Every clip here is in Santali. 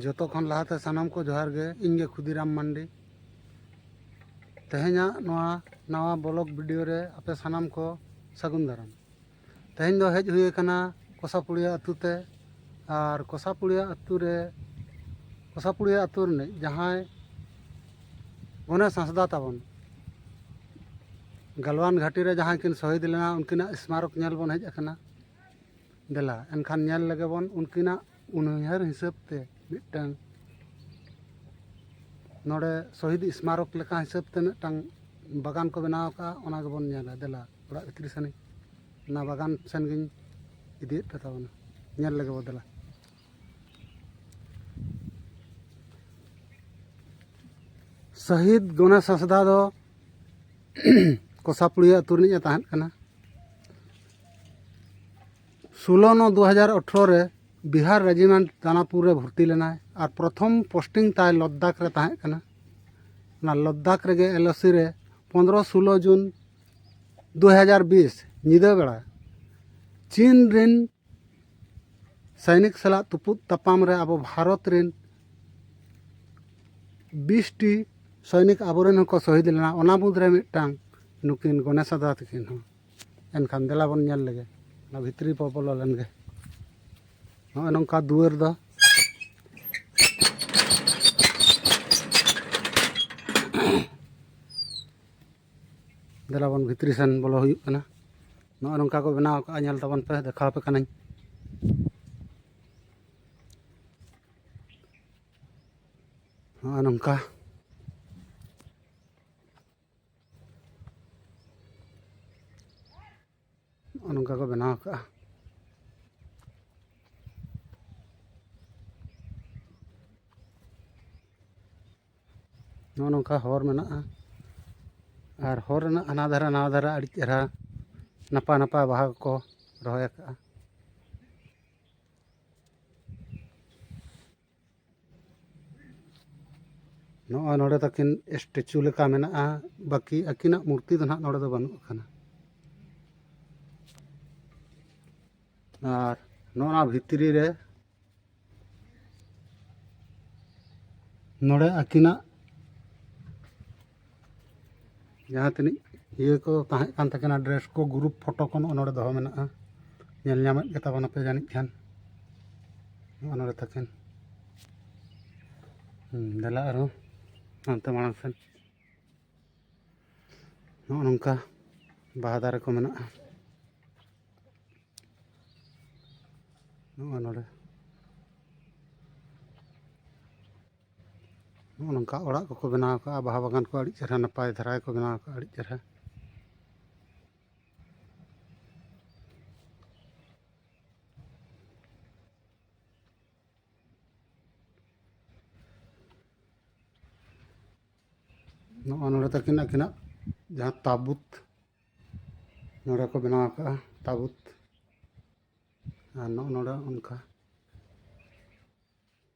ᱡᱚᱛᱚ ᱠᱷᱚᱱ ᱞᱟᱦᱟᱛᱮ ᱥᱟᱱᱟᱢ ᱠᱚ ᱡᱚᱦᱟᱨ ᱜᱮ ᱤᱧ ᱜᱮ ᱠᱷᱩᱫᱤᱨᱟᱢ ᱢᱟᱱᱰᱤ ᱛᱮᱦᱮᱧᱟᱜ ᱱᱚᱣᱟ ᱱᱟᱣᱟ ᱵᱞᱚᱜ ᱵᱷᱤᱰᱤᱭᱳ ᱨᱮ ᱟᱯᱮ ᱥᱟᱱᱟᱢ ᱠᱚ ᱥᱟᱹᱜᱩᱱ ᱫᱟᱨᱟᱢ ᱛᱮᱦᱮᱧ ᱫᱚ ᱦᱮᱡ ᱦᱩᱭ ᱟᱠᱟᱱᱟ ᱠᱚᱥᱟᱯᱩᱲᱤᱭᱟ ᱟᱹᱛᱩ ᱛᱮ ᱟᱨ ᱠᱚᱥᱟᱯᱩᱲᱤᱭᱟ ᱟᱹᱛᱩ ᱨᱮ ᱠᱚᱥᱟᱯᱩᱲᱤᱭᱟ ᱟᱹᱛᱩ ᱨᱤᱱᱤᱡ ᱡᱟᱦᱟᱸᱭ ᱜᱚᱱᱮᱥ ᱦᱟᱸᱥᱫᱟ ᱛᱟᱵᱚᱱ ᱜᱟᱞᱣᱟᱱ ᱜᱷᱟᱴᱤ ᱨᱮ ᱡᱟᱦᱟᱸᱭ ᱠᱤᱱ ᱥᱚᱦᱤᱫ ᱞᱮᱱᱟ ᱩᱱᱠᱤᱱᱟᱜ ᱥᱢᱟᱨᱚᱠ ᱧᱮᱞ ᱵᱚᱱ ᱦᱮᱡ ᱟᱠᱟᱱᱟ ᱫᱮᱞᱟ ᱮᱱᱠᱷᱟᱱ ᱧᱮᱞ ᱞᱮᱜᱮ ᱵᱚᱱ ᱩᱱᱠᱤᱱᱟᱜ ᱩᱱᱩᱭᱦᱟᱹᱨ ᱦᱤᱥᱟᱹᱵ ᱛᱮ ᱢᱤᱫᱴᱟᱝ ᱱᱚᱰᱮ ᱥᱚᱦᱤᱫ ᱥᱢᱟᱨᱚᱠ ᱞᱮᱠᱟ ᱦᱤᱥᱟᱹᱵ ᱛᱮ ᱢᱤᱫᱴᱟᱝ ᱵᱟᱜᱟᱱ ᱠᱚ ᱵᱮᱱᱟᱣ ᱠᱟᱜᱼᱟ ᱚᱱᱟ ᱜᱮᱵᱚᱱ ᱧᱮᱞᱟ ᱫᱮᱞᱟ ᱚᱲᱟᱜ ᱵᱷᱤᱛᱨᱤ ᱥᱮᱱ ᱚᱱᱟ ᱵᱟᱜᱟᱱ ᱥᱮᱱ ᱜᱤᱧ ᱤᱫᱤᱭᱮᱫ ᱯᱮ ᱛᱟᱵᱚᱱᱟ ᱧᱮᱞ ᱞᱮᱜᱮ ᱵᱚ ᱫᱮᱞᱟ ᱥᱟᱹᱦᱤᱫ ᱜᱚᱱᱮᱥ ᱦᱟᱸᱥᱫᱟ ᱫᱚ ᱠᱚᱥᱟᱯᱩᱲᱤᱭᱟᱹ ᱟᱹᱛᱩ ᱨᱤᱱᱤᱡ ᱮ ᱛᱟᱦᱮᱸᱫ ᱠᱟᱱᱟ ᱥᱳᱞᱳ ᱱᱚ ᱫᱩ ᱦᱟᱡᱟᱨ ᱟᱴᱷᱨᱚ ᱨᱮ ᱵᱤᱦᱟᱨ ᱨᱮᱡᱤᱢᱮᱱᱴ ᱫᱟᱱᱟᱯᱩᱨ ᱨᱮ ᱵᱷᱚᱨᱛᱤ ᱞᱮᱱᱟᱭ ᱟᱨ ᱯᱨᱚᱛᱷᱚᱢ ᱯᱳᱥᱴᱤᱝ ᱛᱟᱭ ᱞᱟᱫᱟᱠᱷ ᱨᱮ ᱛᱟᱦᱮᱸ ᱠᱟᱱᱟ ᱚᱱᱟ ᱞᱟᱫᱟᱠᱷ ᱨᱮᱜᱮ ᱮᱞ ᱳ ᱥᱤ ᱨᱮ ᱯᱚᱸᱫᱽᱨᱚ ᱥᱳᱞᱳ ᱡᱩᱱ ᱫᱩ ᱦᱟᱡᱟᱨ ᱵᱤᱥ ᱧᱤᱫᱟᱹ ᱵᱮᱲᱟ ᱪᱤᱱ ᱨᱮᱱ ᱥᱟᱭᱱᱤᱠ ᱥᱟᱞᱟᱜ ᱛᱩᱯᱩᱫ ᱛᱟᱯᱟᱢ ᱨᱮ ᱟᱵᱚ ᱵᱷᱟᱨᱚᱛ ᱨᱮᱱ ᱵᱤᱥᱴᱤ ᱥᱚᱭᱱᱤᱠ ᱟᱵᱚᱨᱮᱱ ᱦᱚᱸᱠᱚ ᱥᱚᱦᱤᱫ ᱞᱮᱱᱟ ᱚᱱᱟ ᱢᱩᱫᱽᱨᱮ ᱢᱤᱫᱴᱟᱝ ᱱᱩᱠᱤᱱ ᱜᱚᱱᱮᱥᱟ ᱫᱟ ᱛᱟᱹᱠᱤᱱ ᱦᱚᱸ ᱮᱱᱠᱷᱟᱱ ᱫᱮᱞᱟ ᱵᱚᱱ ᱧᱮᱞ ᱞᱮᱜᱮ ᱚᱱᱟ ᱵᱷᱤᱛᱨᱤ ᱵᱚ ᱵᱚᱞᱚ ᱞᱮᱱ ᱜᱮ ᱱᱚᱜᱼᱚᱭ ᱱᱚᱝᱠᱟ ᱫᱩᱣᱟᱹᱨ ᱫᱚ ᱫᱮᱞᱟ ᱵᱚᱱ ᱵᱷᱤᱛᱨᱤ ᱥᱮᱱ ᱵᱚᱞᱚ ᱦᱩᱭᱩᱜ ᱠᱟᱱᱟ ᱱᱚᱜᱼᱚᱭ ᱱᱚᱝᱠᱟ ᱠᱚ ᱵᱮᱱᱟᱣ ᱠᱟᱜᱼᱟ ᱧᱮᱞ ᱛᱟᱵᱚᱱ ᱯᱮ ᱫᱮᱠᱷᱟᱣ ᱯᱮ ᱠᱟᱹᱱᱟᱹᱧ ᱱᱚᱜᱼᱚᱭ ᱱᱚᱝᱠᱟ ᱱᱚᱜᱼᱚ ᱱᱚᱝᱠᱟ ᱠᱚ ᱵᱮᱱᱟᱣ ᱟᱠᱟᱫᱼᱟ ᱱᱚᱜᱼᱚ ᱱᱚᱝᱠᱟ ᱦᱚᱨ ᱢᱮᱱᱟᱜᱼᱟ ᱟᱨ ᱦᱚᱨ ᱨᱮᱱᱟᱜ ᱦᱟᱱᱟ ᱫᱷᱟᱨᱮ ᱱᱟᱣᱟ ᱫᱷᱟᱨᱮ ᱟᱹᱰᱤ ᱪᱮᱦᱨᱟ ᱱᱟᱯᱟᱭ ᱱᱟᱯᱟᱭ ᱵᱟᱦᱟ ᱠᱚᱠᱚ ᱨᱚᱦᱚᱭ ᱟᱠᱟᱫᱼᱟ ᱱᱚᱜᱼᱚᱭ ᱱᱚᱰᱮ ᱛᱟᱹᱠᱤᱱ ᱥᱴᱮᱪᱩ ᱞᱮᱠᱟ ᱢᱮᱱᱟᱜᱼᱟ ᱵᱟᱹᱠᱤ ᱟᱹᱠᱤᱱᱟᱜ ᱢᱩᱨᱛᱤ ᱫᱚ ᱱᱟᱦᱟᱜ ᱱᱚᱰᱮ ᱫᱚ ᱵᱟᱹᱱᱩᱜ ᱟᱠᱟᱱᱟ ᱟᱨ ᱱᱚᱣᱟ ᱵᱷᱤᱛᱨᱤ ᱨᱮ ᱱᱚᱰᱮ ᱟᱹᱠᱤᱱᱟᱜ ᱡᱟᱦᱟᱸ ᱛᱤᱱᱟᱹᱜ ᱤᱭᱟᱹ ᱠᱚ ᱛᱟᱦᱮᱸ ᱠᱟᱱ ᱛᱟᱹᱠᱤᱱᱟ ᱰᱨᱮᱥ ᱠᱚ ᱜᱨᱩᱯ ᱯᱷᱳᱴᱳ ᱠᱚ ᱱᱚᱜᱼᱚᱸᱭ ᱱᱚᱰᱮ ᱫᱚᱦᱚ ᱢᱮᱱᱟᱜᱼᱟ ᱧᱮᱞ ᱧᱟᱢᱮᱜ ᱜᱮᱛᱟ ᱵᱚᱱᱟ ᱯᱮ ᱡᱟᱹᱱᱤᱡ ᱠᱷᱟᱱ ᱱᱚᱜᱼᱚᱸᱭ ᱱᱚᱰᱮ ᱛᱟᱹᱠᱤᱱ ᱫᱮᱞᱟ ᱟᱨᱦᱚᱸ ᱦᱟᱱᱛᱮ ᱢᱟᱲᱟᱝ ᱥᱮᱱ ᱱᱚᱜᱼᱚᱸᱭ ᱱᱚᱝᱠᱟ ᱵᱟᱦᱟ ᱫᱟᱨᱮ ᱠᱚ ᱢᱮᱱᱟᱜᱼᱟ ᱱᱚᱜᱼᱚᱸᱭ ᱱᱚᱰᱮ ᱱᱚᱜᱼᱚ ᱱᱚᱝᱠᱟ ᱚᱲᱟᱜ ᱠᱚᱠᱚ ᱵᱮᱱᱟᱣ ᱠᱟᱜᱼᱟ ᱵᱟᱦᱟ ᱵᱟᱜᱟᱱ ᱠᱚ ᱟᱹᱰᱤ ᱪᱮᱦᱨᱟ ᱱᱟᱯᱟᱭ ᱫᱷᱟᱨᱟ ᱜᱮᱠᱚ ᱵᱮᱱᱟᱣ ᱠᱟᱜᱼᱟ ᱟᱹᱰᱤ ᱪᱮᱦᱨᱟ ᱱᱚᱜᱼᱚ ᱱᱚᱰᱮ ᱛᱟᱹᱠᱤᱱ ᱟᱹᱠᱤᱱᱟᱜ ᱡᱟᱦᱟᱸ ᱛᱟᱵᱩᱛ ᱱᱚᱰᱮ ᱠᱚ ᱵᱮᱱᱟᱣ ᱠᱟᱜᱼᱟ ᱛᱟᱵᱩᱛ ᱟᱨ ᱱᱚᱜᱼᱚ ᱱᱚᱰᱮ ᱚᱱᱠᱟ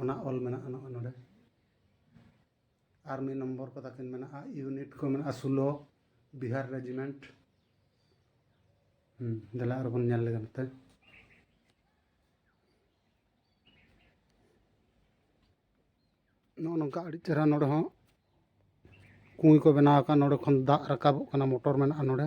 ᱚᱱᱟ ᱚᱞ ᱢᱮᱱᱟᱜᱼᱟ ᱱᱚᱜᱼᱚᱭ ᱱᱚᱰᱮ ᱟᱨ ᱢᱤᱫ ᱱᱚᱢᱵᱚᱨ ᱠᱚ ᱛᱟᱹᱠᱤᱱ ᱢᱮᱱᱟᱜᱼᱟ ᱤᱭᱩᱱᱤᱴ ᱠᱚ ᱢᱮᱱᱟᱜᱼᱟ ᱥᱩᱞᱚ ᱵᱤᱦᱟᱨ ᱨᱮᱡᱤᱢᱮᱱᱴ ᱦᱩᱸ ᱫᱮᱞᱟ ᱟᱨ ᱵᱚᱱ ᱧᱮᱞ ᱞᱮᱜᱟ ᱱᱚᱛᱮ ᱱᱚᱜᱼᱚ ᱱᱚᱝᱠᱟ ᱟᱹᱰᱤ ᱪᱮᱦᱨᱟ ᱱᱚᱰᱮ ᱦᱚᱸ ᱠᱩᱸᱭ ᱠᱚ ᱵᱮᱱᱟᱣ ᱟᱠᱟᱫ ᱱᱚᱰᱮ ᱠᱷᱚᱱ ᱫᱟᱜ ᱨᱟᱠᱟᱵᱚᱜ ᱠᱟᱱᱟ ᱢᱚᱴᱚᱨ ᱢᱮᱱᱟᱜᱼᱟ ᱱᱚᱰᱮ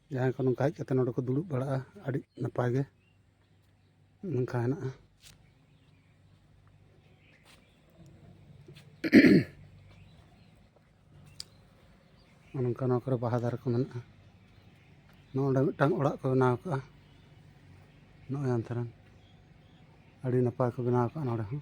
ᱡᱟᱦᱟᱸᱭ ᱠᱚ ᱱᱚᱝᱠᱟ ᱦᱮᱡ ᱠᱟᱛᱮ ᱱᱚᱰᱮ ᱠᱚ ᱫᱩᱲᱩᱵ ᱵᱟᱲᱟᱜᱼᱟ ᱟᱹᱰᱤ ᱱᱟᱯᱟᱭ ᱜᱮ ᱱᱚᱝᱠᱟ ᱦᱮᱱᱟᱜᱼᱟ ᱱᱚᱝᱠᱟ ᱱᱚᱣᱟ ᱠᱚᱨᱮ ᱵᱟᱦᱟ ᱫᱟᱨᱮ ᱠᱚ ᱢᱮᱱᱟᱜᱼᱟ ᱱᱚᱰᱮ ᱢᱤᱫᱴᱟᱝ ᱚᱲᱟᱜ ᱠᱚ ᱵᱮᱱᱟᱣ ᱠᱟᱜᱼᱟ ᱱᱚᱜᱼᱚᱭ ᱟᱱᱛᱷᱟᱨᱟᱱ ᱟᱹᱰᱤ ᱱᱟᱯᱟᱭ ᱠᱚ ᱵᱮᱱᱟᱣ ᱠᱟᱜᱼᱟ ᱱᱚᱰᱮ ᱦᱚᱸ